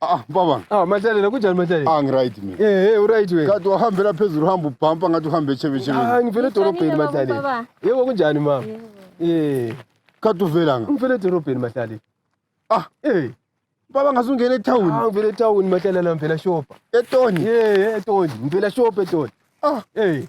Ah, baba. Ah, Mahlalela kunjani Mahlalela? Ah, ngiright mina. Eh, hey, uright wena. Kade wahambela phezulu uhamba ubhampa ngathi uhambe echebe echebe. Ah, ngivele edorobheni Ngishonile, Mahlalela. baba. Yebo kunjani mama? Eh, Kade uvela nga. ngivele edorobheni Mahlalela. Ah. Eh, Baba ngasungena ah, etown. ngivele etown Mahlalela ngivela shopha. Etoni. Eh, etoni, ngivela shopha etoni. Ah, Eh,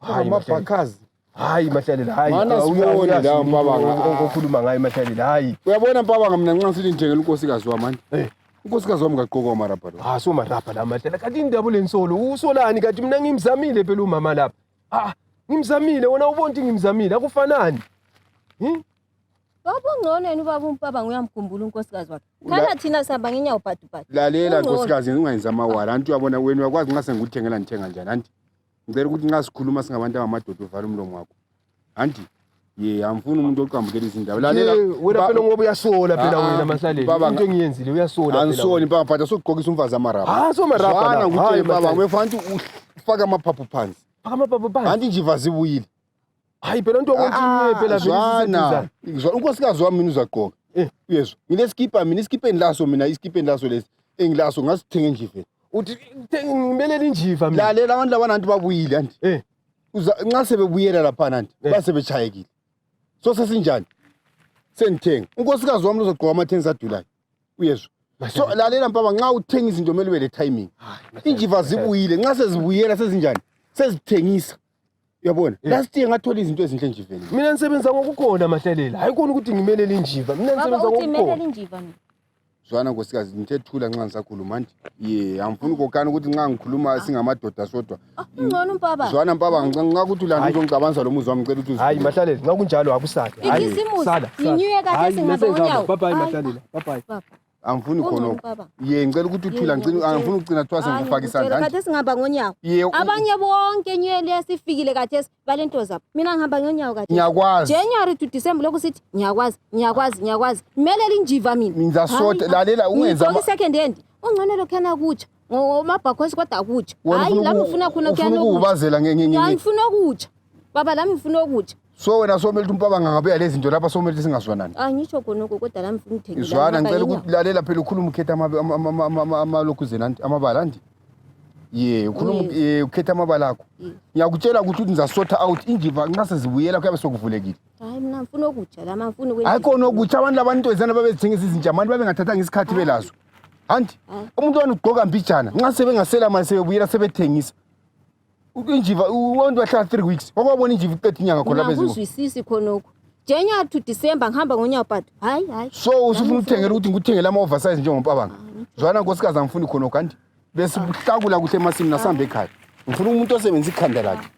Hayi mabhakazi. Hayi mahlalela hayi. Mana sibone la mpabanga okhuluma ngaye mahlalela hayi. Uyabona mpabanga mina nxa sithi njengela unkosikazi wami manje. Eh. Unkosikazi wami ngaqoka umarabha lo. Ah so marabha la mahlalela. Kanti indaba lensolo usolani kanti mina ngimzamile phela umama lapha. Ah ngimzamile wona ubonti ngimzamile akufanani. Hmm? Baba ungcono yena ubaba umpabanga uyamkhumbula unkosikazi wakhe. Khala thina sihamba ngenyawo bhadubhadu. Lalela nkosikazi ungayenza amawala. Anti uyabona wena uyakwazi nxa sengikuthengela ngithenga njani anti. ngicela ukuthi nxa sikhuluma singabantu angamadoda uvale umlomo wakho anti ye angifuni umuntu oqambukela izindaba lalela wena phela ngoba uyasola phela ah, wena ah, masaleni into engiyenzile uyasola phela anisoni baba mfana sokugqokisa umfazi amarabha ah so marabha bana ngithe baba wefanti ufaka amaphaphu phansi faka amaphaphu phansi anti nje vazi buyile hayi phela into okontinye ah, phela zwana unkosikazi wami mina uzagqoka eh. uyezwa nginesikipa mina isikipeni laso mina isikipeni laso lesi engilaso ngasithenga endliveni uthi ngimelele injiva mina lalela abantu labana nti babuyile anti eh. nxa sebebuyela laphana nti eh. basebechayekile so sesinjani sengithenga unkosikazi wami lozogqoka amathenisi adulayo uyezwa so lalela mpaba nxa uthenga izinto kumele ube le timing injiva zibuyile nxa sezibuyela sezinjani sezithengisa uyabona Yeah. last year ngathola izinto ezinhle nje vele mina nisebenza ngokugona mahlalela hayi kona ukuthi ngimelele injiva mina baba nisebenza uthi ngokugona imelela injiva mina zwana nkosikazi ngithe thula nxa ngisakhuluma nje ye angifuni ukokana ukuthi nxa ngikhuluma singamadoda sodwa Ah, ungcono umpaba zwana mpaba nxa nxa ukuthi ulanda Hayi. uzongicabanisa lo muzi wami ngicela ukuthi hayi uzivule. mahlalela nxa kunjalo akusale Ikhisimusi, yinyuye kahle, singabe unyawo. bye bye Hayi. mahlalela bye bye Baba. angifuni khona lokho ye ngicela ukuthi uthula ngicela angifuni ukucina kuthiwa sengikufaka isandla nje khathesi ngihamba ngonyawo abanye bonke nyele yasifikile khathesi balento zabo mina ngihamba ngonyawo khathesi ngiyakwazi January to December lokhu sithi ngiyakwazi ngiyakwazi ngiyakwazi kumele linjiva mina mina soda lalela ungenza ama second hand ungcono lokhana kutsha ngomabhakhosi kodwa akutsha hayi la ngifuna khona kuyana ukubazela ngengengenge ngifuna ukutsha baba la ngifuna ukutsha so wena somele ukuthi umpabanga angabuya lezi zinto lapha somele ukuthi singazwanani angisho khona uku kodwa la mfuna uthengile izwana ngicela ukuthi lalela phela ukhuluma ukhetha amalokhu zenanti amabala ndi ye ukhuluma ye ukhetha amabala akho ngiyakutshela ukuthi uthi ngizasotha out injiva nxa sezibuyela kuyabe sokuvulekile hayi mina ngifuna okutsha la mafuna ukwenza hayi khona okutsha abantu labantu ezana babezithengisa izinja abantu babengathathanga isikhathi belazo anti umuntu wani ugqoka mbijana nxa sebengasela mali sebebuyela sebethengisa injiva abantu bahlala three weeks wakwabona injiva iqeda inyanga khona lapha eziko Ngakuzwisisi khonokho. January to December ngihamba ngonyaka but hayi hayi. so usufuna ukuthengela ukuthi ngikuthengele ama-oversize njengompabanga zwana nkosikazi angifuni khona kanti bese uhlakula kuhle emasini nasihambe ekhaya ngifuna umuntu osebenzisa ikhanda lakhe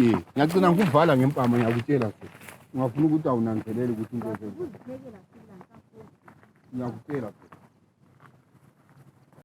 ye ngiyagcina ngikuvala ngempama ngiyakutshela nje ungafuna ukuthi awunanzelele ukuthi into ezenza ngiyakutshela nje